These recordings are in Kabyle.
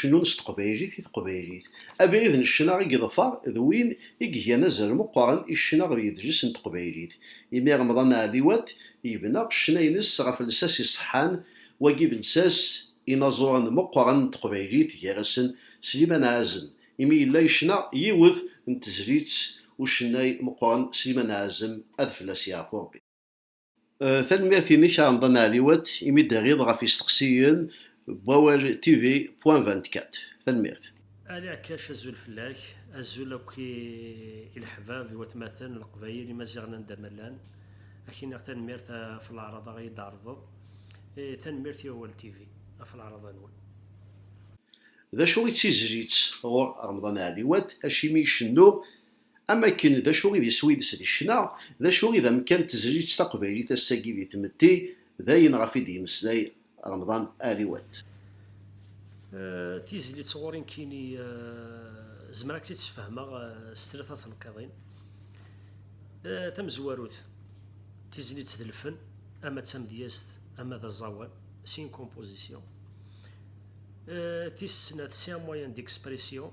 cennun s teqbaylit i teqbaylit. Abrid n ccna i yeḍfar d win i igan azal meqqren i ccna ɣer yedles n teqbaylit. Imi Remḍan Ɛliwat yebna ccna-ines ɣef lsas iṣeḥḥan, wagi d lsas inaẓuren meqqren n teqbaylit gar-asen Sliman Ɛazem, imi yella yecna yiwet n tezlit ucennay meqqren Sliman Ɛazem ad fell-as yeɛfu Rebbi. Tanemmirt-inek a Remḍan Ɛliwat imi d-terriḍ ɣef yisteqsiyen n Wawal TV point vingt-quatre. Tanemmirt. Ali Ɛekkac azul fell-ak, azul akk i i leḥbab, i watmaten, i leqbayel, imaziɣen anda ma llan, ad k-iniɣ tanemmirt ɣef leɛraḍa i yi-d-tɛerḍeḍ, tanemmirt i Awal TV ɣef leɛraḍa-nwen. D acu i d tizlit ɣur Remḍan Ɛliwat, acimi i cennuɣ Am wakken d acu i d iswi-ines di ccna, d acu i d amekkan n tezlit taqbaylit ass-agi di tmetti, d ayen ɣef i d-yemmeslay Remḍan Ali Wat. Tizlit ɣur-i nekkini zemreɣ ad k-tt-id-sfehmeɣ s tlata tenqiḍin. Tamezwarut, tizlit d lfen, ama d tamedyazt ama d aẓawan, c'est une composition. Tis snat, c'est un moyen d'expression.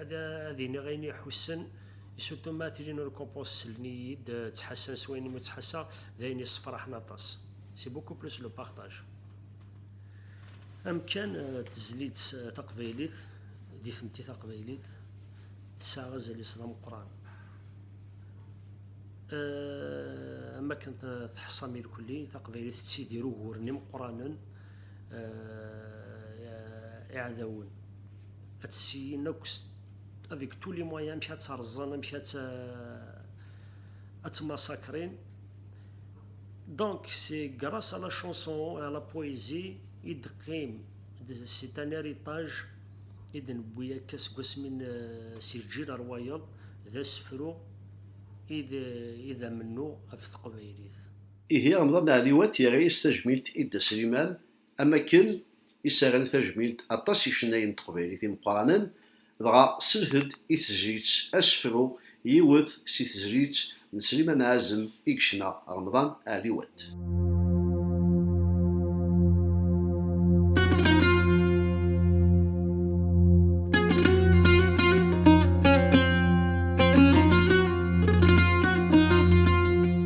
ad ad iniɣ ayen iḥussen surtout ma tilin ur compos sellen-iyi-d ttḥassan s wayen imi ttḥassaɣ d ayen yessefraḥen aṭas c'est beaucoup plus le partage amkan tezlit taqbaylit di tmetti taqbaylit tesɛa azal-is d ameqqran am akken teḥṣam irkelli taqbaylit tettidir uguren imeqqranen euh, iɛdawen ad tessin akk avec tous les moyens amek ad terẓen amek ad ad tmassakrin donc c'est grâce à la chanson et à la poésie i d-qim c'est un héritage i d-newwi akka seg wasmi si lǧil ar wayeḍ d asefru i d amennuɣ af teqbaylit Ihi Remḍan Ɛli Wat yerra-yas tajmilt i Dda Sliman am wakken i s-rran tajmilt aṭas yicennayen n teqbaylit imeqqranen, dɣa slet-d i tezlit Asefru yiwet si tezlit n Sliman Ɛazem i yecna Remḍan Ɛli Wat.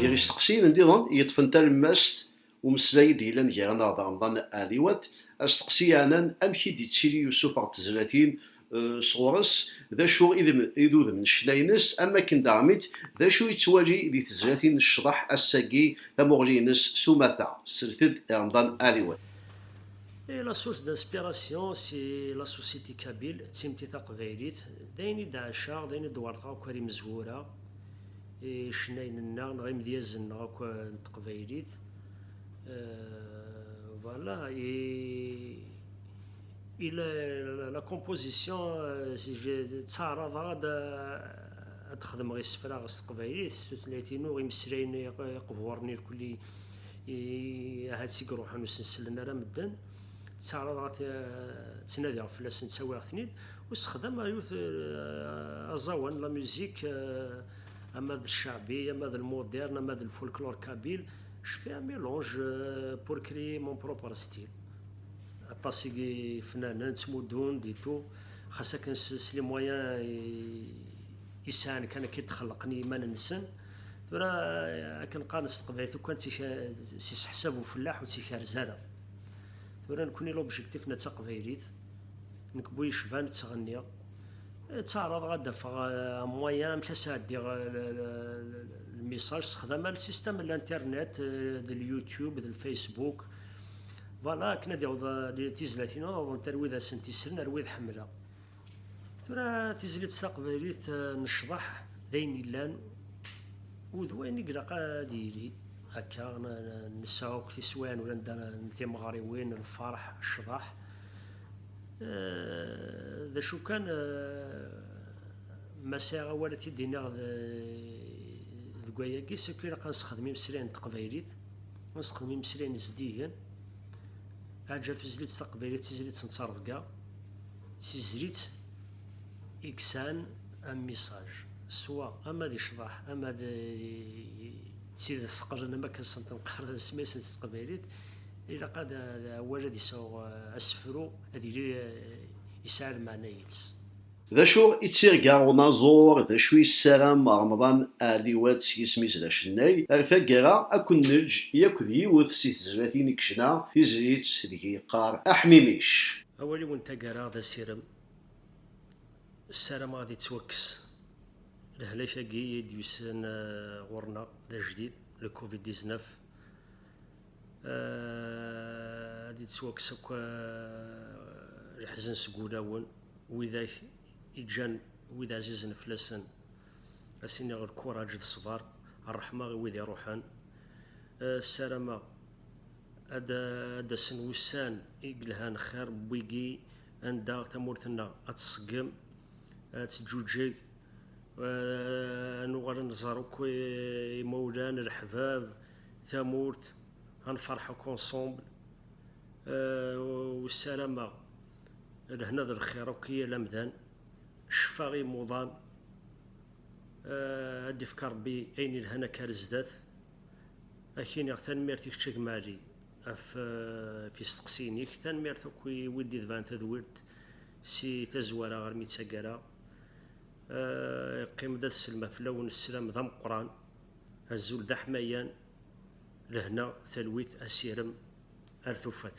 Gar yisteqsiyen nniḍen yeṭṭfen talemmast umeslay i d-yellan gar-aneɣ d Remḍan Ɛliwat, asteqsi yeɛnan amek i d-yettili usufeɣ n tezlatin sɣur-s, d acu i d udem n ccna-ines, am wakken daɣmit d acu i yettwali di tezlatin n ccḍeḥ ass-agi, tamuɣli-ines s umata, tesret-d i Remḍan Ɛliwat. I la source d'inspiration si la société kabyle, d timetti taqbaylit, d ayen i d-ɛaceɣ, d ayen i d-werrteɣ akk-a d imezwura, icennayen-nneɣ neɣ imedyazen-nneɣ akk n teqbaylit voilà et et la, la, la composition ttaɛraḍeɣ ad ad xedmeɣ isefra s teqbaylit s tutlayt-inu imeslayen iqburen irkelli ahat i iruḥen ur sen-sellen ara medden ttaɛraḍeɣ ad ttnadiɣ fell-asen ttawiɣ-ten-id u sexdam ayut aẓawan la music ama d ccaɛbi ama d lmudern ama d lfolklor kabil je fais un mélange pour créer mon propre style aṭas i yifnanen ttmuddun-d et tout xas akken s les moyens i sɛan kan akka i d-xellqen i yiman-nsen tura akken qqaren s teqbaylit ukkan s iseḥsab ufellaḥ ur tt-ikerrez ara tura nekni l'objectif na d taqbaylit nekk bu yecban ttɣenniɣ ttaɛraḍeɣ ad d-afeɣ amwaya amek ad sɛeddiɣ lmisaj sexdama lsistem n l'internet d l'youtube d l'facebook voilà akken ad yaweḍ tizlatin ad awḍent ar wid asen-tisren ar wid ḥemmleɣ Tura tizlit taqbaylit n ccḍeḥ d ayen yellan u d wayen i ilaq ad yili akka, nesɛu akk tiswiɛin uranda n timeɣriwin, lferḥ, ccḍeḥ, d acu kan ma sɛiɣ awal ad t-id-iniɣ deg wayagi s akk ilaq ad nesexdem imeslayen n teqbaylit, ad nesexdem imeslayen zeddigen, aǧa tuzlitt taqbaylit d tizlitt n ttrebga. d tizlit i yesɛan amisaj, swa ama d icḍaḥ ama d tidet teqlen am wakken sent-nqarren asmi i sent s teqbaylit, ilaq ad awal ad yesɛu asefru, ad yili yesɛa lmeɛna yid-s. D acu i d tirga n unaẓur, d acu i yessaram Remḍan Ɛliwat s yisem-is d acennay? Ar taggara, ad ken-neǧǧ yakk d yiwet si tezlatin i yecna tizlit deg i yeqqar Aḥmimic. Awal-iw n taggara d asirem, ssarameɣ ad yettwakkes lehlak-agi i d-yusan ɣur-neɣ d ajdid, le covid 19, ad yettwakkes akk leḥzen seg wulawen widak i ǧǧan wid ɛzizen fell-asen, a s-iniɣ lkuraǧ d ṣṣber, ṛṛeḥma i wid iṛuḥen, ssarameɣ. Ad d-asen wussan i yelhan xir n wigi anda tamurt-nneɣ ad tṣeggem, ad teǧǧuǧeg, ad nuɣal ad nẓer akk imawlan, leḥbab, tamurt, ad nferḥ akk ensemble. Ur ssarameɣ lehna d lxir akk i yal amdan, ccfa i yimuḍan. Ad d-ifk Rebbi ayen yelhan akka ar zdat. Ad ak-iniɣ tanemmirt i kečč a gma Ɛli ɣef ɣef yisteqsiyen-ik, tanemmirt akk i wid d-itebɛen tadwilt si tazwara armi d taggara. Yeqqim-d ad sellmeɣ fell-awen sslam d ameqqran, azul d aḥmayan, lehna, talwit, asirem ar tufat.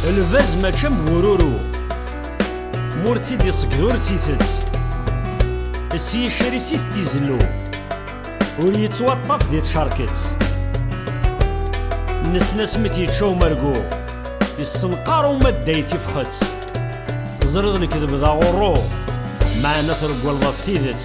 Lbaz mačči am bururu Mur tt-id iṣegged ur tt-itett S yicris i t-izellu Ur yettwaṭṭaf di tcerket Nesnas mi t-yečča umergu Yessenqar uma dday tifxet Ẓriɣ lekdeb d aɣurru Meɛna treggleḍ ɣef tidet